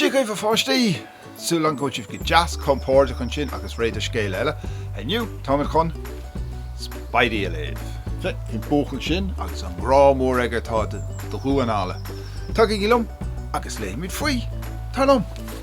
Dia dhaoibh a pháistí! Súil agam go bhfuil sibh go deas compóirdeach ansin agus réidh do scéal eile. Inniu tá mé chun Spidey a léamh. Sea, an buachaill sin agus an grá mór aige atá do dhamháin alla. Tagaigí liom agus léimid faoi! Téanam!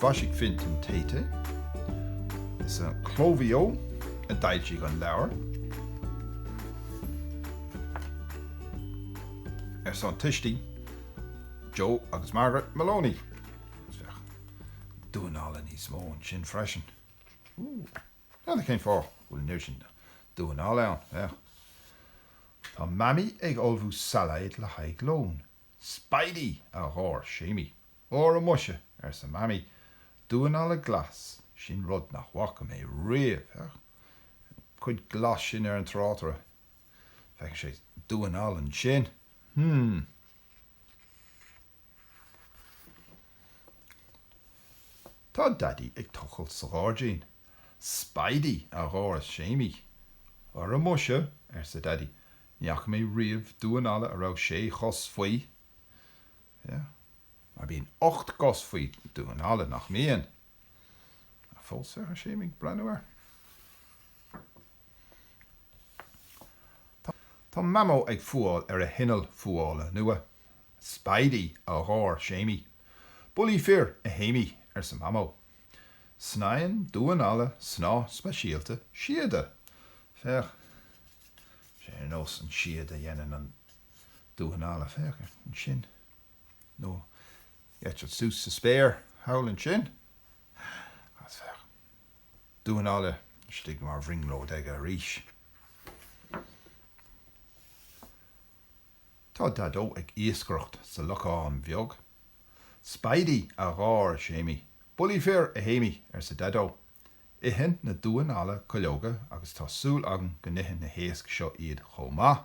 Mhaisigh Fintan Taite, is é Cló Mhaigh Eo a d'fhoilsigh an leabhar, ar son tuistí Joe agus Margaret Moloney, agus féach damhán alla níos mó ansin freisin. Ooh. N'fheadar cén fáth go bhfuil an oiread sin damhán alla ann, féach. Tá Mamaí ag ullmhú sailéad le haghaidh lón. Spidey! a gháir Séimí. Ara muise, arsa Mamaí, damhán alla glas, sin rud nach bhfaca mé riamh, féach an chuid glas sin ar an tráta, feiceann sé damhán alla ansin, hmm. Tá Daidí ag tochailt sa ghairdín. Spidey! a gháir Séimí. Ara muise, arsa Daidí, ní fhaca mé riamh damhán alla a raibh sé chos faoi! Yeah. Mar bíonn ocht gcos faoi damhán alla, nach mbíonn? Ach fós tá Séimí ag breathnú air. Tá Mamó ag fuáil ar a hinneall fuála nua. Spidey, a gháir Séimí. Bullaí fir, a Shéimí, arsa Mamó. Sníomhann damhán alla snáth speisialta síoda. Féach, sé ar nós an síoda a dhéanann an Damhán alla, féach air ansin, nó eitilt suas sa spéir thall ansin, agus féach damhán alla istigh mar bhrionglóid aige arís. Tá Daideo ag iascaireacht sa lochán bheag. Spidey, a gháir Séimí. Bullaí fir, a Shéimí, arsa Daideo. Itheann na damháin alla cuileoga agus tá súil agam go n-itheann na héisc seo iad chomh maith.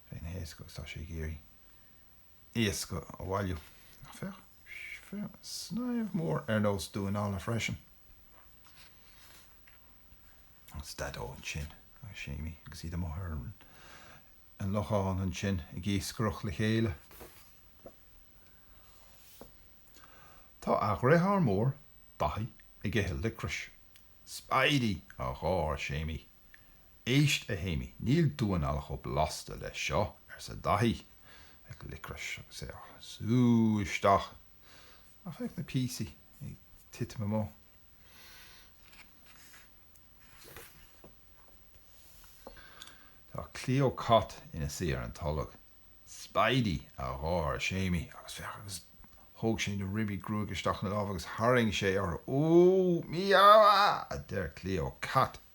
Féach na héisc agus tá sé ag iarraidh iasc a bhailiú. Féach, féach, snaidhm mhór ar nós damhán alla freisin. Is Daideo ansin agus Séimí agus iad amuigh ar an lochán ansin ag iascaireacht le chéile. Tá a dhriotháir mór, Daithí, ag ithe liocrais. Spidey! a gháir Séimí. 'Éist, a Shéimí, níl damháin alla chomh blasta leis seo, arsa Daithí, ag liocras á shú isteach. 'Ach féach na píosaí ag titim amú. Tá Cleo Cat ina suí ar an tolg. 'Spidey! a gháir Séimí. 'Agus féach, agus. Thóg sé na ribí gruaige isteach ina lámh agus tharraing sé orthu. 'Úúú! Mí-abha! a deir Cleo Cat.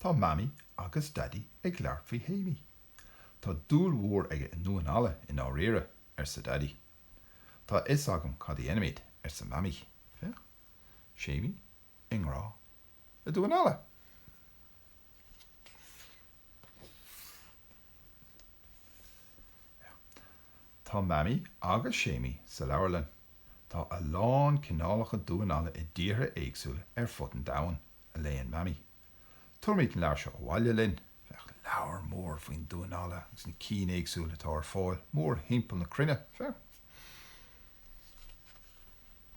Tá Mamaí agus Daidí ag labhairt faoi Shéimí. Tá dúil mhór aige i ndamháin alla i ndáiríre, arsa Daidí. Tá a fhios agam cad a dhéanfaimid, arsa Mamaí. Féach. Séimí i ngrá le damháin alla! Tá Mamaí agus Séimí sa leabharlann. Tá a lán cineálacha damhán alla i dtíortha éagsúla ar fud an domhain, a léann Mamaí. Tabharfaimid an leabhar seo abhaile linn. Féach, leabhar mór faoin damhán alla agus na cinn éagsúla atá ar fáil mórthimpeall na cruinne. Féach.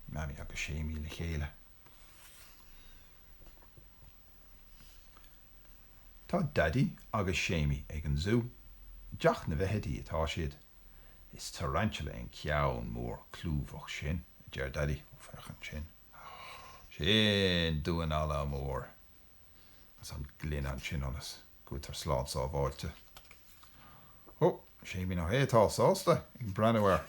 Mamaí agus Séimí le chéile. Tá Daidí agus Séimí ag an zú. I dteach na bhfeithidí atá siad. Is tarantula é an ceann mór clúmhach sin, a deir Daidí. Ó, féach ansin. Sin damhán alla mór. Agus an ghloine ansin ionas go bhfuiltear slán sábháilte. Ó, Séimí, nach é atá sásta ag breathnú air!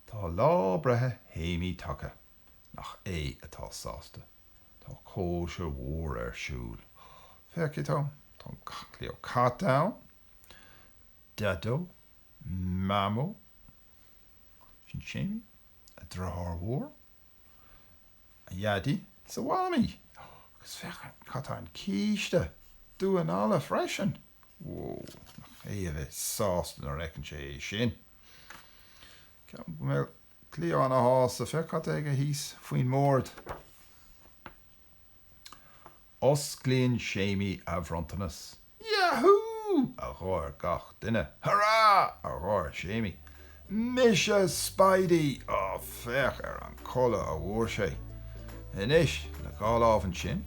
Tá lá breithe Shéimí tagtha, nach é atá sásta. Tá cóisir mhór ar siúl. Féachaigí dó, tá Cleo Cat ann, Deaideo, Mamó, sin Séimí, a dheartháir mhór, A Dhaidí 's a Mhamaí, agus féach cad tá an císte damhán alla freisin! Whoa, nach é a bheidh sásta nuair a fheiceann sé é sin! Ceapaim go mbeidh Cleo ana shásta, féach cad tá aige thíos faoin mbord! Osclaíonn Séimí a bhronntanas. Yahú! a gháir gach duine. Hurá! a gháir Séimí. Mise Spidey! Ó, féach ar an chulaith a bhfuair sé! Anois, le dhá lámh ansin,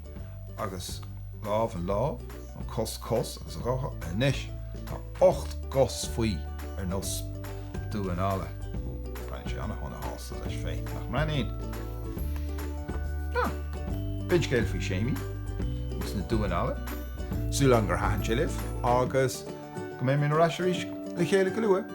agus lámh an lámh, an chos cos, agus a dhá, anois, tá. Ocht gcos faoi, ar nós damhán alla. Breathnaíonn sé an-shona shásta leis féin, nach mbreathnaíonn? Nó, b'in scéal faoi Séimí agus na damháin alla, súil agam gur thaitin sé libh, agus go mbeidh muid ar ais arís le chéile go luath!